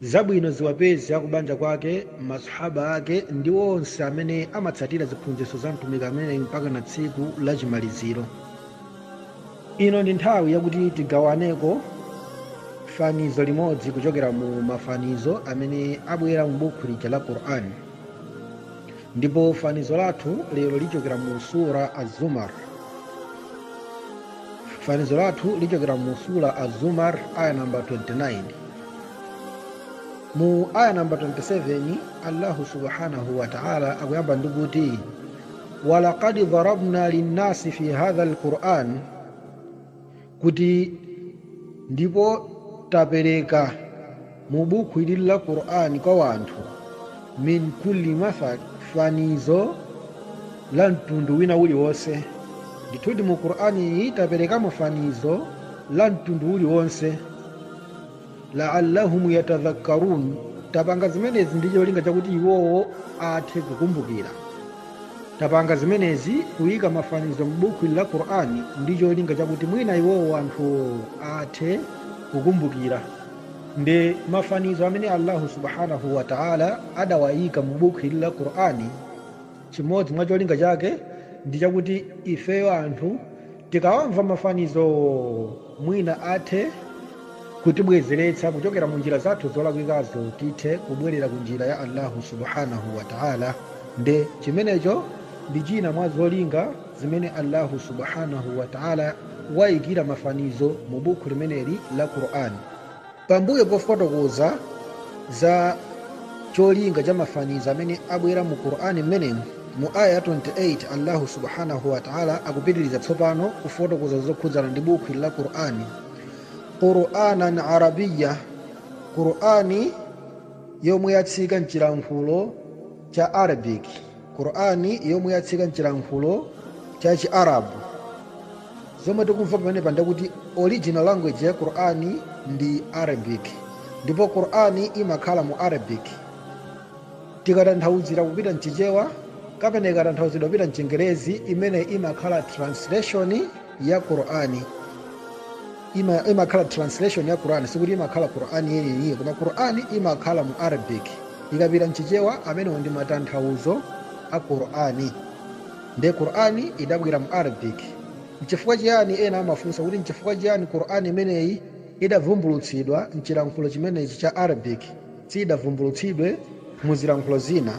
Zabwino ziwapeze akubanja kwake, masahaba ake ndi onse amene amatsatira ziphunzitso za mtumiki ameneyu mpakana tsiku la chimaliziro. Ino ndi nthawi yakuti tigawaneko fanizo limodzi kuchokera mu mafanizo amene abwera mu bukhu lija la Quran. Ndipo fanizo lathu lero lichokera mu sura Az-Zumar. fanizo lathu lichokera mu sura azumar aya namba 29 mu aya namba 27 allahu subhanahu wa taala akuyamba ndi kuti walaqad dharabna linnasi fi hadha alquran kuti ndipo tapereka mu buku ili la qur'ani kwa wanthu min kulli mathal fanizo la mtundu wina uliwonse ndithudi mu qur'ani iyi tapereka mafanizo la mtundu uliwonse laallahum yatadhakkarun tapanga zimenezi ndi cholinga chakuti iwowo athe kukumbukira tapanga zimenezi kuyika mafanizo m'buku la qur'ani ndi cholinga chakuti mwina iwowo anthuwo athe kukumbukira ndi mafanizo amene allahu subhanahu wa taala adawayika mu bukhu ili la qur'ani chimodzi mwa cholinga chake ndi chakuti ifeyo anthu tikawamva mafanizowo mwina athe kutibwezeretsa kuchokera mu njira zathu zolakwikazo tithe kubwerera ku njira ya allahu subhanahu wa taala nde chimenecho ndi china mwa zolinga zimene Allahu subhanahu wa ta'ala waikira mafanizo mu bukhu limeneli la Qur'an. Pambuyo pofotokoza za cholinga cha mafanizo amene abwera mu Qur'an mmenemu, mu aya ya 28 Allahu subhanahu wa ta'ala akupitiriza tsopano kufotokoza zokhudzana ndi bukhu ili la Qur'an. Qur'anan Arabiyya, Qur'ani yomwe yatsika mchilankhulo cha Arabic. Qur'an yomwe yatsika mchilankhulo cha chi Arab. Zomwe tikumva pamenepa ndi kuti original language ya Qur'an ndi Arabic. Ndipo Qur'an imakhala mu Arabic. Tikatanthauzira kupita mchichewa kapena ikatanthauzidwa kupita mchingerezi imene imakhala translation ya qur'ani ima- imakhala translation ya qur'ani sikuti imakhala qur'ani yeniyeniye koma qur'ani imakhala mu arabic ikapita mchichewa amenewo ndi matanthauzo a qur'ani nde qur'ani idabwera mu arabic mchifukwa chiyani ena amafunsa kuti mchifukwa chiyani qur'ani imeneyi idavumbulutsidwa mchilankhulo chimenechi cha arabic siyidavumbulutsidwe mu zilankhulo zina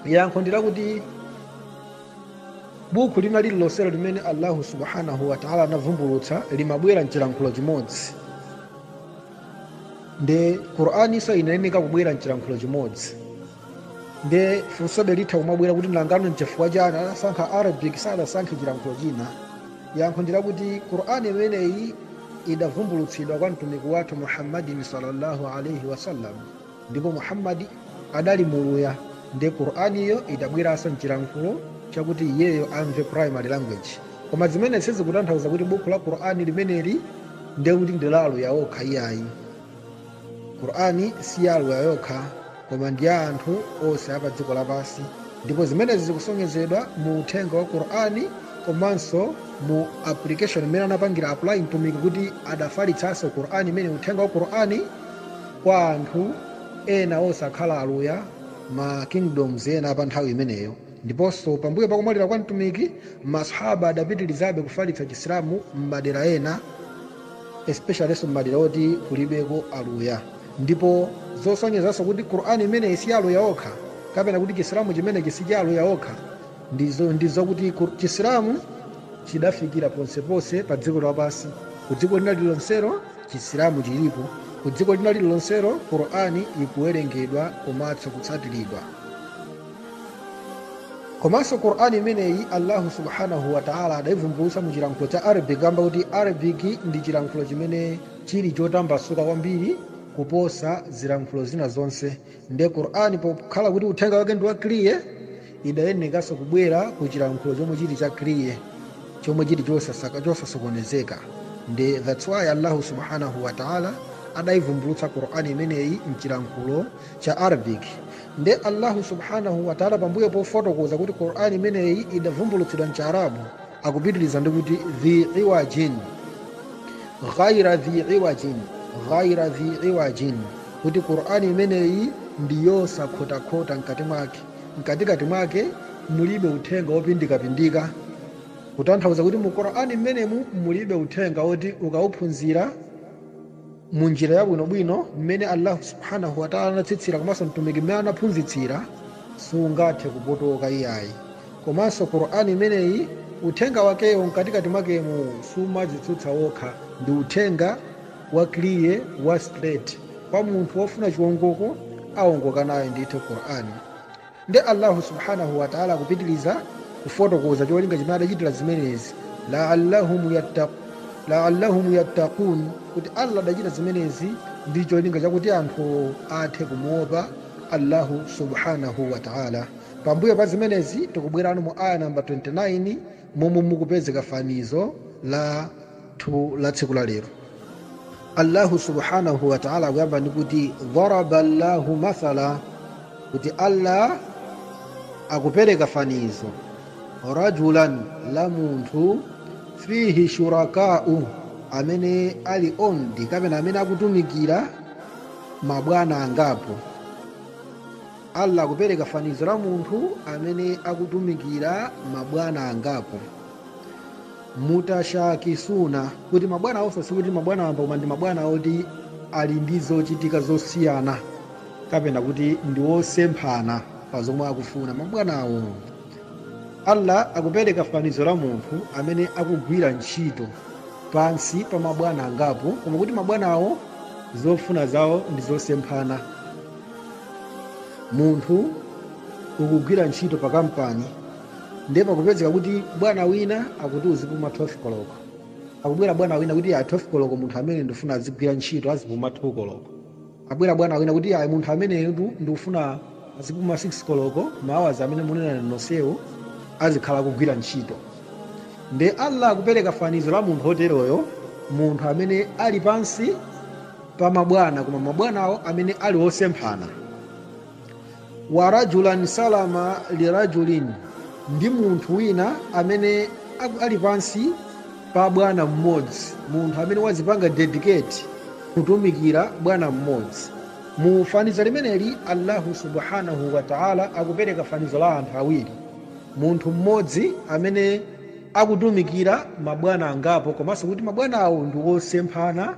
yankho ndi lakuti buku lina lililonselo limene allahu subhanahu wataala anavumbulutsa limabwera mchilankhulo chimodzi nde qur'aninso inayeneka kubwera mchilankhulo chimodzi nde funsobe litha kumabwera kuti nangano mchifukwa chani anasankha arabic sanasankhe chilankhulo china yankho ndilakuti qur'ani imeneyi idavumbulutsidwa kwa mtumiki wathu muhammadin sallallahu alaihi wasallam ndipo muhammadi adali muluya nde qur'aniyo idabweranso mchilankhulo chakuti iyeyo amve primary language koma zimenezi sizikutanthauza kuti bukhu la qur'ani limeneli ndiye kuti ndi la aluya okha iyayi qur'ani si ya aluya okha koma ndi ya anthu onse a padziko lapansi ndipo zimenezi zikusonyezedwa mu uthenga wa qur'ani komanso mu application imene anapangira apply mtumiki kuti adafalitsanso qur'ani imene uthenga wa qur'ani kwa anthu ena osakhala Aluya, ma kingdoms ena a pa nthawi imeneyo. Ndiponso, pambuyo pa kumwalira kwa Mtumiki, ma Swahaba adapitirizabe kufalitsa Chisilamu m'madera ena, especiallyso m'madera oti kulibeko Aluya. Ndipo zosonyezanso kuti Qur'an imeneyi si ya Aluya okha, kapena kuti Chisilamu chimenechi si cha Aluya okha, Ndi zakuti Chisilamu chidafikira ponseponse pa dziko lapansi. Ku dziko lina lililonselo Chisilamu chilipo. Ku dziko lina lililonselo Qurani ikuwerengedwa komanso kutsatiridwa. Komanso Qurani imeneyi Allahu subhanahu wa ta'ala adaivumbulutsa mu chilankhulo cha Arabic kamba kuti Arabic ndi chilankhulo chimene chili chotambasuka kwambiri kuposa zilankhulo zina zonse. nde qur'an pokhala kuti uthenga wake ndi wa clear idayenekanso kubwera ku chilankhulo chomwe chili cha clear chomwe chili chosasokonezeka nde thats why allahu subhanahu wataala adaivumbulutsa qur'an imeneyi mchilankhulo cha arabic nde allahu subhanahu wataala pambuyo pofotokoza kuti qur'an imeneyi idavumbulutsidwa mchiarabu akupitiriza ndi kuti dhi iwajin ghaira dhi iwajin ghaira dhi iwajin kuti Qur'an imeneyi ndi yosakhotakhota mkati mwake mkatikati mwake mulibe uthenga wopindikapindika kutanthauza kuti mu Qur'an mmenemu mulibe uthenga woti ukauphunzira mu njira yabwinobwino mmene Allah subhanahu wa ta'ala anatsitsira komanso mtumiki mmene anaphunzitsira sungathe kupotoka iyayi komanso Qur'an imeneyi uthenga wakewo mkatikati mwakemu sumadzitsutsa wokha ndi uthenga wa clear wa straight kwa munthu wofuna chiwongoko awongoka nayo ndithu Qur'an ndi Allahu subhanahu wa ta'ala akupitiliza kufotokoza cholinga chimene adachitira zimenezi la'allahum yattaq la'allahum yattaqun kuti Allah adachita zimenezi ndi cholinga chakuti anthu athe kumuopa Allahu subhanahu wa ta'ala pambuyo pa zimenezi tikubwerano mu aya namba 29 momwe mukupezeka fanizo la thu la tsiku la lero allahu subhanahu wataala akuyamba ndi kuti dharaba llahu mathala kuti allah akupereka fanizo rajulan la munthu fihi shurakau amene ali ondi kapena amene akutumikira mabwana angapo allah akupereka fanizo la munthu amene akutumikira mabwana angapo mutashakisuna kuti mabwana awonso sikuti mabwana wamba koma ndi mabwana oti ali ndi zochitika zosiyana kapena kuti ndi wosemphana pa zomwe akufuna mabwana awo allah akupereka fanizo la munthu amene akugwira ntchito pansi pa mabwana angapo koma kuti mabwana awo zofuna zawo ndi zosemphana munthu ukugwira ntchito pa kampani ndiye pakupezeka kuti bwana wina akuti uzipuma 12 koloko akubwera bwana wina kuti ayi 12 koloko munthu ameneyu ndikufuna azigwira ntchito azipuma 2 koloko abwera bwana wina kuti ayi munthu ameneyo ndu- ndikufuna azipuma 6 koloko maawazi amene munena nonsewo azikhala akugwira ntchito nde allah akupereka fanizo la munthu oteroyo munthu amene ali pansi pa mabwana koma mabwanawo amene ali osemphana wa rajulan salama lirajulin ndi munthu wina amene aku- ali pansi pa bwana mmodzi munthu amene wazipanga dedicate kutumikira bwana mmodzi mu fanizo limeneli allahu subhanahu wa taala akupereka fanizo la anthu awiri munthu mmodzi amene akutumikira mabwana angapo komanso kuti mabwana awo ndi osemphana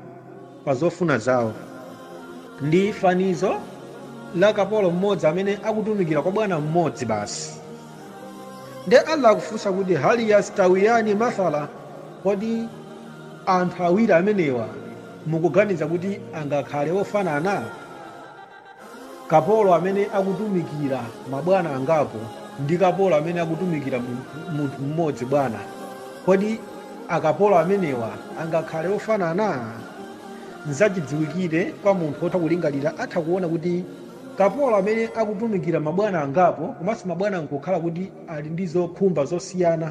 pa zofuna zawo. Ndi fanizo la kapolo mmodzi amene akutumikira kwa bwana mmodzi basi. Nde Allah akufunsa kuti hal yastawiyani mathala, kodi anthu awiri amenewa mukuganiza kuti angakhale ofanana? Kapolo amene akutumikira mabwana angapo ndi kapolo amene akutumikira mu- munthu mmodzi bwana, kodi akapolo amenewa angakhale ofanana? Nzachidziwikire kwa munthu wotha kulingalira atha kuona kuti kapolo amene akutumikira mabwana angapo komanso mabwanawo nkukhala kuti ali ndi zokhumba zosiyana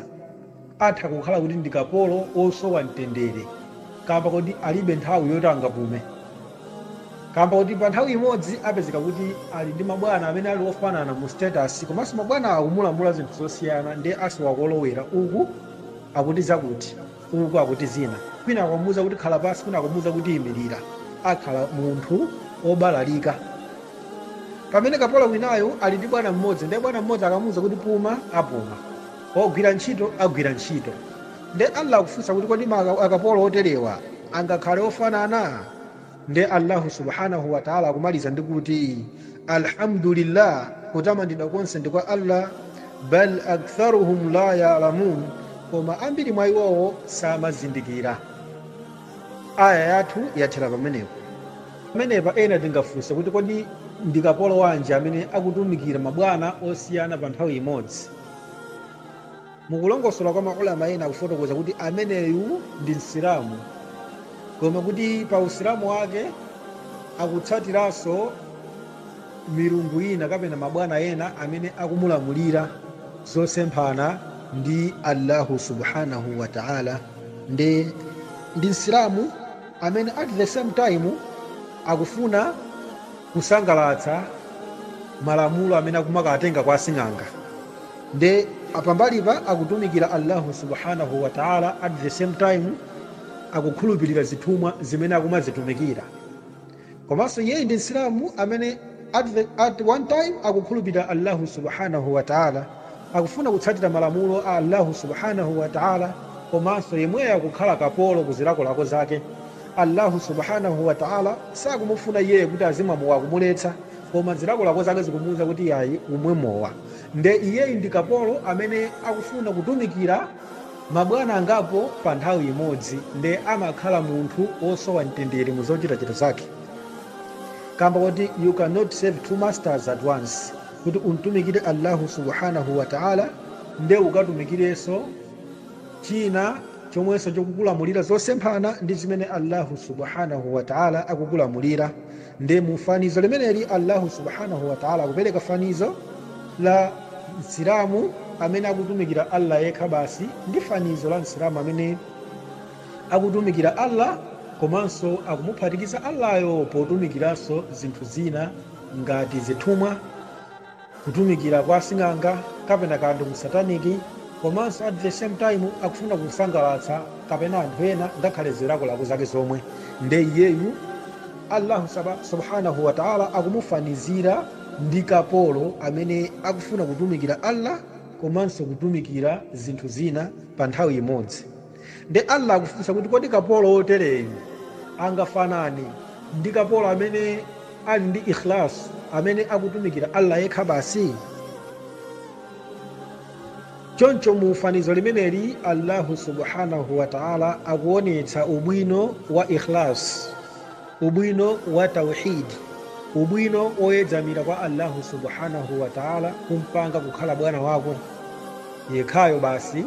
Atha kukhala kuti ndi kapolo wosowa mtendere kaamba koti alibe nthawi yoti angapume, kaamba koti pa nthawi imodzi apezeka kuti ali ndi mabwana amene ali ofanana mu status komanso mabwana akumulamula zinthu zosiyana ndiye asowa kolowera uku akuti zakuti, uku akuti zina, kwina akumuuza kuti khala pansi kwina akumuuza kuti imilira. Akhala munthu wobalalika. Pamene kapolo winayu ali ndi bwana mmodzi ndiye bwana mmodzi akamuuza kuti puma, apuma. Ugwire ntchito agwira ntchito. Nde Allah akufunsa kuti kodi makapolo oterewa angakhale ofanana? Nde Allahu subhanahu wa ta'âlâ akumaliza ndi kuti, Alhamdu lillah, kutamandidwa konse ndi kwa Allah, bal aktharuhum la ya'lamun, koma ambiri mwa iwowo samazindikira. Aayah yathu yathera pamenepa. Pamenepa ena tingafunse kuti kodi ndi kapolo wanji amene akutumikira mabwana osiyana pa nthawi imodzi? mukulongosola kwa maulama ena akufotokoza kuti ameneyu ndi msilamu koma kuti pa usilamu wake akutsatiranso milungu ina kapena mabwana ena amene akumulamulira zosemphana ndi allahu subhanahu wa taala nde ndi msilamu amene at the same time akufuna kusangalatsa malamulo amene akumakatenga kwa asing'anga nde pambalipa akutumikira Allahu subhanahu wa ta'ala at the same time akukhulupirira zithumwa zimene akumazitumikira komanso iyeyi ndi msilamu amene at, the, at one time akukhulupirira Allahu subhanahu wa ta'ala akufuna kutsatira malamulo a Allahu subhanahu wa ta'ala komanso yemweyo akukhala kapolo ku zilakolako zake Allahu subhanahu wa ta'âlâ sakumufuna iyeyu kuti azimwa mowa akumuletsa, koma zilakolako zake zikumuuza kuti iyayi umwe mowa. Nde iyeyu ndi kapolo amene akufuna kutumikira mabwana angapo pa nthawi imodzi nde amakhala munthu wosowa mtendere mu zochitachita zake. Kamba koti you cannot serve two masters at once, kuti umtumikire Allahu subhanahu wa ta'âlâ nde ukatumikirenso china, chomwenso chikukulamulira zosemphana ndi zimene Allahu subhanahu wa ta'ala akukulamulira nde mu fanizo limeneli Allahu subhanahu wa ta'ala akupereka fanizo la msilamu amene akutumikira Allah yekha basi ndi fanizo la msilamu amene akutumikira Allah komanso akumuphatikiza Allahyo potumikiranso zinthu zina ngati zithumwa kutumikira kwa asing'anga kapena kaya ndi ku satanic komanso at the same time akufuna kusangalatsa kapena anthu ena ngakhale zilakolako zake zomwe nde iyeyu allahu subhanahu wataala akumufanizira ndi kapolo amene akufuna kutumikira allah komanso kutumikira zinthu zina pa nthawi imodzi Nde Allah akufunsa kuti kodi kapolo wotereyu angafanane ndi kapolo amene ali ndi ikhlas, amene akutumikira Allah yekha basi? Choncho mu fanizo limeneli Allahu subhanahu wa ta'ala akuonetsa ubwino wa ikhlas, ubwino wa tauhid, ubwino woyedzamira kwa Allahu subhanahu wa ta'ala kumpanga kukhala bwana wako yekhayo basi.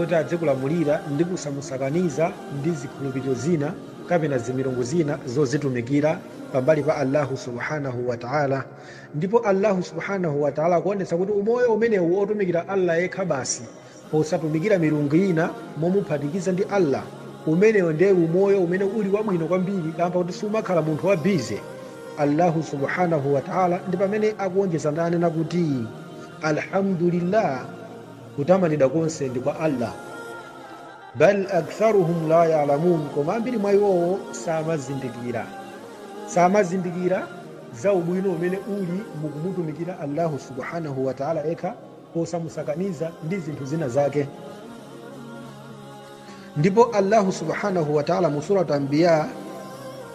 oti adzikulamulira ndi kusamusakaniza ndi zikhulupiriro zina kapena zimilungu zina zozitumikira pambali pa Allahu subhanahu wa ta'ala ndipo Allahu subhanahu wa ta'ala akuonetsa kuti umoyo umenewu otumikira Allah yekha basi posatumikira milungu ina momuphatikiza ndi Allah umenewo ndiye umoyo umene uli wabwino kwambiri kaamba kuti sumakhala munthu wa bize Allahu subhanahu wa ta'ala ndi pamene akuonjeza ndi kunena kuti alhamdulillah Kutamandidwa konse ndi kwa Allah. Bal aktharuhum la ya'lamun, koma ambiri mwa iwowo samazindikira, samazindikira za ubwino umene uli mukumutumikira Allahu subhanahu wa ta'ala yekha posamusakaniza ndi zinthu zina zake. Ndipo Allahu subhanahu wa ta'ala mu Surat Anbiya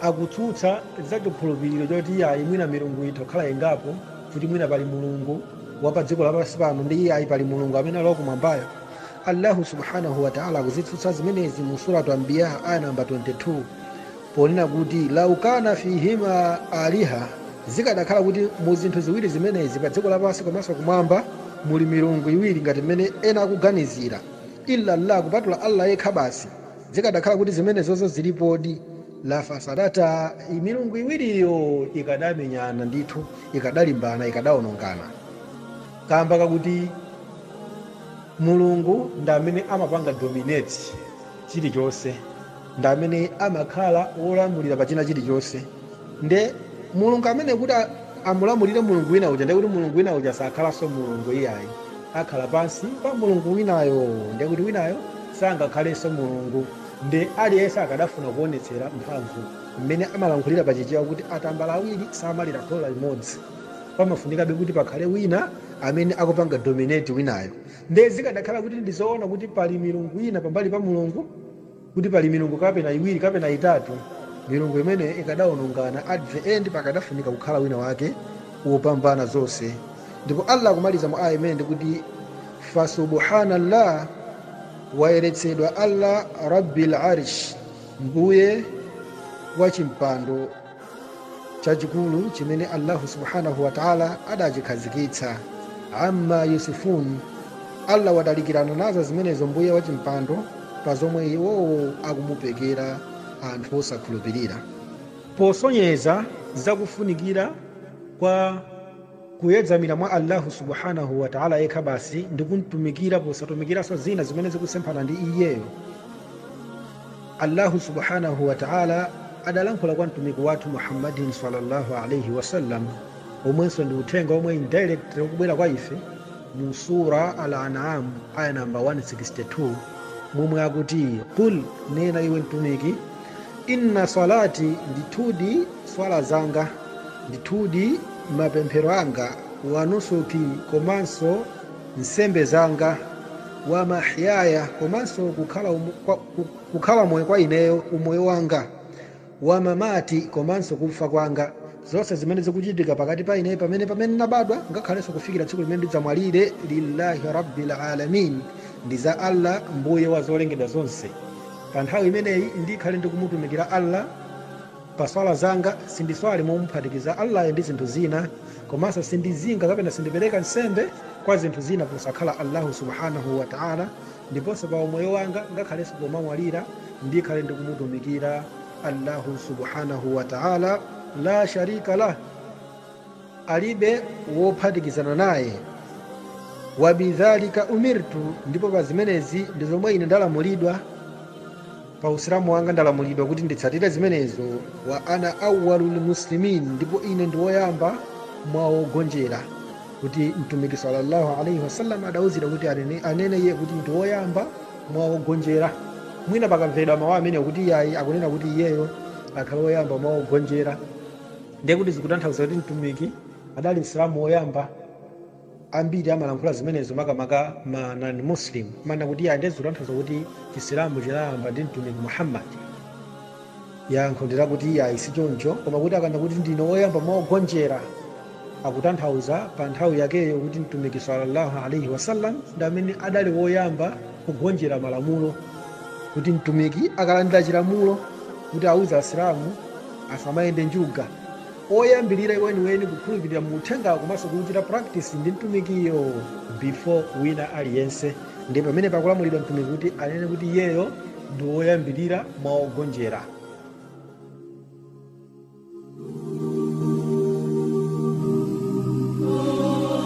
akutsutsa za chikhulupiriro choti iyayi mwina milungu itha kukhala ingapo kuti mwina pali mulungu wa pa dziko lapansi pano ndi iyayi pali mulungu amene ali wakumwambayo allahu subhanahu wa ta'ala akuzitsutsa zimenezi mu suratu anbiya ayah namba 22 ponena kuti lau kana fihima aliha zikadakhala kuti mu zinthu ziwiri zimenezi pa dziko lapansi komanso kumwamba muli milungu iwiri ngati mmene ena akuganizira illa Allah, kupatula Allah Yekha basi, zikadakhala kuti zimenezozo zilipodi, la fasadata, milungu iwiriyo ikadamenyana ndithu, ikadalimbana, ikadaonongana, kaamba kakuti Mulungu ndi amene amapanga dominate chilichonse. ndi amene amakhala wolamulira pa china chilichonse. Ndiye Mulungu ameneyo kuti amulamulire Mulungu wina uja, ndiye kuti Mulungu wina uja sakhalanso Mulungu iyayi, akhala pansi pa Mulungu winayo, ndiye kuti winayo sangakhalenso Mulungu. Ndiye aliyense akadafuna kuwonetsera mphamvu mmene amalankhulira pa Chichewa kuti atambala awiri samalira khola limodzi, pamafunikabe kuti pakhale wina amene akupanga dominate winayo. Ndiye zikadakhala kuti ndi zoona kuti pali milungu ina pambali pa Mulungu, kuti pali milungu kapena iwiri kapena itatu milungu imene ikadaonongana at the end pakadafunika kukhala wina wake wopambana zonse ndipo allah akumaliza mu aya imeneyi kuti fasubuhanallah wayeretsedwa allah rabbil arish mbuye wa chimpando chachikulu chimene allahu subhanahu wataala adachikhazikitsa amma yasifun allah watalikirana nazo zimenezo mbuye wa chimpando pa zomwe iwowo akumupekera anthu osakhulupirira posonyeza zakufunikira kwa kuyedzamira mwa Allahu subhanahu wa ta'ala yekha basi ndi kumtumikira posatumikiranso zina zimene zikusemphana ndi iyeyo Allahu subhanahu wa ta'ala adalankhula kwa mtumiki wathu Muhammadin sallallahu alaihi wasallam omwenso ndi uthenga omwe indirectly ukubwera kwa ife mu sura al-an'am aya namba 162 momwe akuti qul nena iwe mtumiki Inna swalati, ndithudi swala zanga, ndithudi mapemphero anga, wa nusuki, komanso nsembe zanga, wa mahyaya, komanso kukhala moyo kwa ineyo, umoyo wanga, wa mamati, komanso kufa kwanga, zonse zimene zikuchitika pakati pa ineyo pamene pamene nabadwa ngakhalenso kufikira tsiku limene ndidzamwalire, lillahi rabbil alamin, ndi za Allah Mbuye wa zolengedwa zonse. Pa nthawi imeneyi ndikhale ndikumutumikira Allah pa swala zanga, sindiswala momuphatikiza Allayo ndi zinthu zina, komanso sindizinga kapena sindipereka nsembe kwa zinthu zina posakhala Allahu subhaanah wa Ta'ala, ndiponso pa umoyo wanga ngakhalenso pomamwalira ndikhale ndikumutumikira Allahu subhaanah wa Ta'ala laa sharika lah. alibe wophatikizana naye wabidhalika umirtu ndipo pa zimenezi ndi zomwe ine ndalamulidwa pa usilamu wanga ndalamulidwa kuti nditsatire zimenezo wa ana awwalul muslimin ndipo ine ndi woyamba mwa ogonjera kuti mtumiki sallallahu alaihi wasallam adauzidwa kuti anene, anene iye kuti ndi woyamba mwa ogonjera mwina pakamvedwa mawu amenewo kuti iyayi akunena kuti iyeyo akhale woyamba mwa ogonjera Ndiye kuti zikutanthauza kuti Mtumiki adali Msilamu woyamba? Ambiri amalankhula zimenezo makamaka ma non-Muslim, amanena kuti iyayi, ndiye zikutanthauza kuti Chisilamu chinayamba ndi Mtumiki Muhammad? Yankho ndi lakuti iyayi, sichoncho, koma kuti akanena kuti ndine woyamba mwa ogonjera, akutanthauza pa nthawi yakeyo kuti Mtumiki salla Allah alaih wasallam ndi amene adali woyamba kugonjera malamulo, kuti Mtumiki akalandira chilamulo kuti auze Asilamu, asamayende njuga oyambirira weniweni kukhulupirira mu uthenga komanso kuchita practice ndi mtumikiyo before wina aliyense ndipo pamene pakulamulidwa mtumiki kuti anene kuti iyeyo ndi woyambirira mwa ogonjera